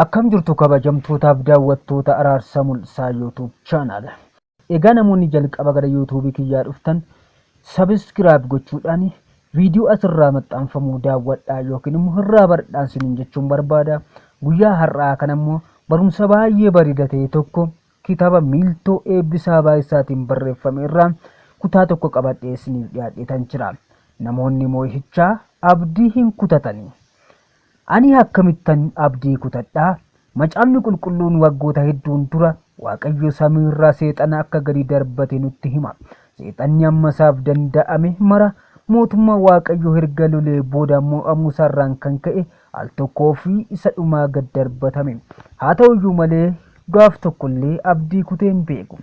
Akkam jirtu kabajamtootaaf daawwattoota Araarsaa Mul'isaa YouTube channel. Egaa namoonni jalqaba gara YouTube kiyyaa dhuftan subscribe gochuudhaan viidiyoo asirraa maxxanfamu daawwadhaa yookiin immoo irraa baradhaa isiniin jechuun barbaada. Guyyaa har'aa kana immoo barumsa baay'ee bareeda ta'e tokko Kitaaba Miiltoo Eebbisaa Baay'isaatiin barreeffame irraa kutaa tokko qabadhee isiniif dhiyaadheetan jira. Namoonni moo'ichaa abdii hin kutatani. Ani akkamittan abdii kutadha? Macaafni qulqulluun waggoota hedduun dura Waaqayyo samii irraa seexana akka gadi darbate nutti hima. Seexanni amma isaaf danda'ame mara mootummaa Waaqayyoo erga lolee booda moo'amuu isaarraan kan ka'e al tokkoo fi isa dhumaa gad darbatame. Haa ta'u iyyuu malee, gaaf tokko illee abdii kutee hin beeku.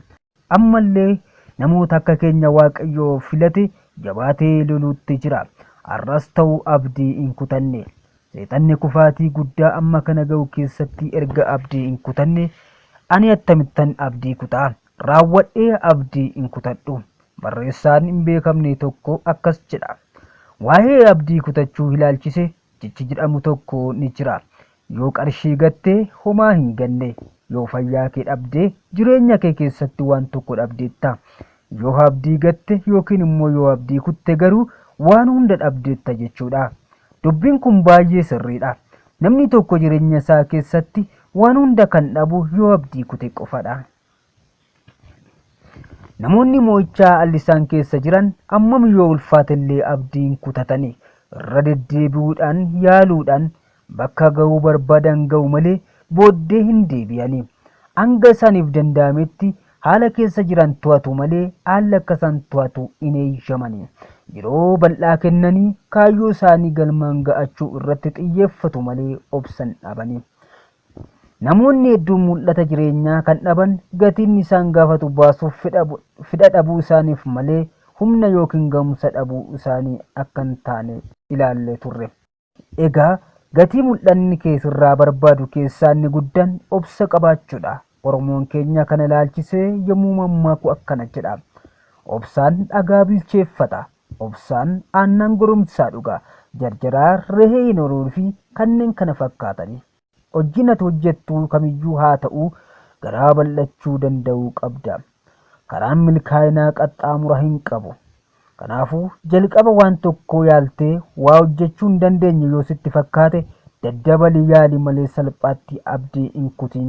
Amma illee namoota akka keenya Waaqayyo filate jabaatee loluutti jira. Har'as ta'u abdii hin kutanne. Seexanni kufaatii guddaa amma kana ga'u keessatti erga abdii hin kutanne, ani attamittan abdii kuta? Raawwadhee abdii hin kutadhu. Barreessaan hin beekamne tokko akkas jedha. Waa'ee abdii kutachuu ilaalchise Jechi jedhamu tokko ni jira. Yoo qarshii gatte homaa hin ganne. Yoo fayyaa kee dhabde jireenya kee keessatti waan tokko dhabdeetta. Yoo abdii gatte yookiin immoo yoo abdii kutte garuu waan hunda dhabdeetta jechuudha. Dubbiin kun baay'ee sirriidha. Namni tokko jireenya isaa keessatti waan hunda kan dhabu yoo abdii kute qofadha. Namoonni mo'ichaa allisaan keessa jiran ammam yoo ulfaatellee abdiin kutatanii irra deddeebi'uudhaan yaaluudhaan bakka ga'uu barbaadan ga'u malee booddee hin deebi'anii. Hanga isaaniif danda'ametti haala keessa jiran to'atu malee haalli akka isaan to'atu hin eeyyamani. Yeroo bal'aa kennanii kaayyoo isaanii galmaan ga'achuu irratti xiyyeeffatu malee obsan dhabani. Namoonni hedduun mul'ata jireenyaa kan dhaban gatiin isaan gaafatu baasuuf fedha dhabuu isaaniif malee humna yookiin gahumsa dhabuu isaanii akka hin taane ilaallee turre. Egaa gatii mul'anni kee sirraa barbaadu keessaa inni guddaan obsa qabaachuudha. Oromoon keenya kana ilaalchisee yommuu mammaaku akkana jedha. Obsaan dhagaa bilcheeffata. Obsaan aannan goromsaa dhugaa. Jarjaraa, rehee hin horuun fi kanneen kana fakkaataniif. Hojjiin ati hojjettu kamiyyuu haata'u garaa bal'achuu danda'uu qabda. Karaan milkaa'inaa qaxxaamura hin qabu. Kanaafuu, jalqaba waan tokkoo yaaltee waa hojjechuu hin dandeenye yoo sitti fakkaate daddabalii yaali malee salphaatti abdii hin kutin.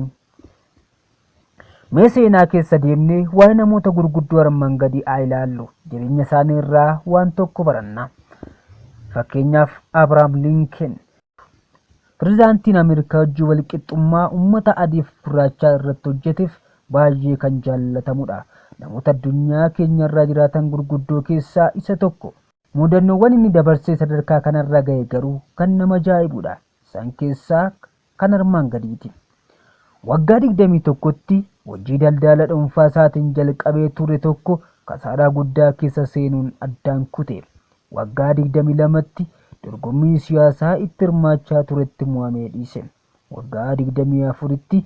Mee seenaa keessa deemnee waa'ee namoota gurguddoo armaan gadii haa ilaallu. Jireenya isaanii irraa waan tokko baranna. Fakkeenyaaf Abrahaam Linken. Pirezidaantiin Ameerikaa hojii walqixxummaa uummata adiif gurraachaa irratti hojjeteef baay'ee kan jaallatamudha. Namoota addunyaa keenya irraa jiraatan gurguddoo keessaa isa tokko. Muudannoowwan inni dabarsee sadarkaa kanarra gahe garuu kan nama ajaa'ibudha. Isaan keessaa kan armaan gadiiti. Waggaa 21tti hojii daldaala dhuunfaa isaatiin jalqabee ture tokko kasaaraa guddaa keessa seenuun addaan kute. Waggaa 22tti dorgommii siyaasaa itti hirmaachaa turetti mo'amee dhiise. Waggaa 24tti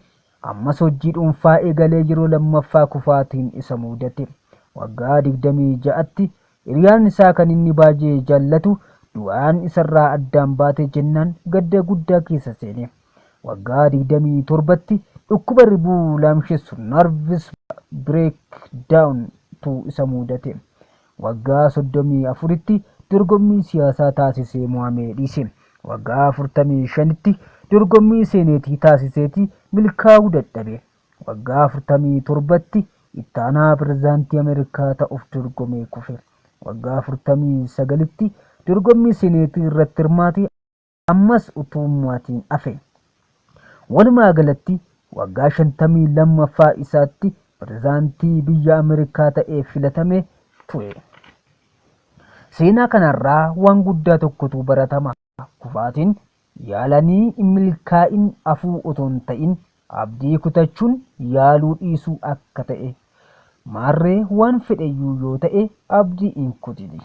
ammas hojii dhuunfaa eegalee yeroo lammaffaa kufaatiin isa muudate. Waggaa 26tti Hiriyaan isaa kan inni baay'ee jaallatu du'aan isarraa addaan baate jennaan gadda guddaa keessa seene. Waggaa 27tti dhukkuba ribuu laamshessu nerves breakdown tu isa muudate. Waggaa 34tti dorgommii siyaasaa taasisee mo'amee dhiise. Waggaa 45tti dorgommii seeneetii taasiseetii milkaa'uu dadhabe. Waggaa 47tti ittaanaa pirezidaantii Ameerikaa ta'uuf dorgomee kufe. Waggaa 49tti dorgommii seneetii irratti hirmaate ammas utuu hin mo'atiin hafe. Walumaa galatti waggaa 52ffaa isaatti pirezidaantii biyya Ameerikaa ta'ee filatame ture. Seenaa kanarraa waan guddaa tokkotu baratama. Kufaatiin yaalanii hin milkaa'in hafuu otoo hin ta'in abdii kutachuun yaaluu dhiisuu akka ta'e. Maarree waan fedheyyuu yoo ta'e abdii hin kutini.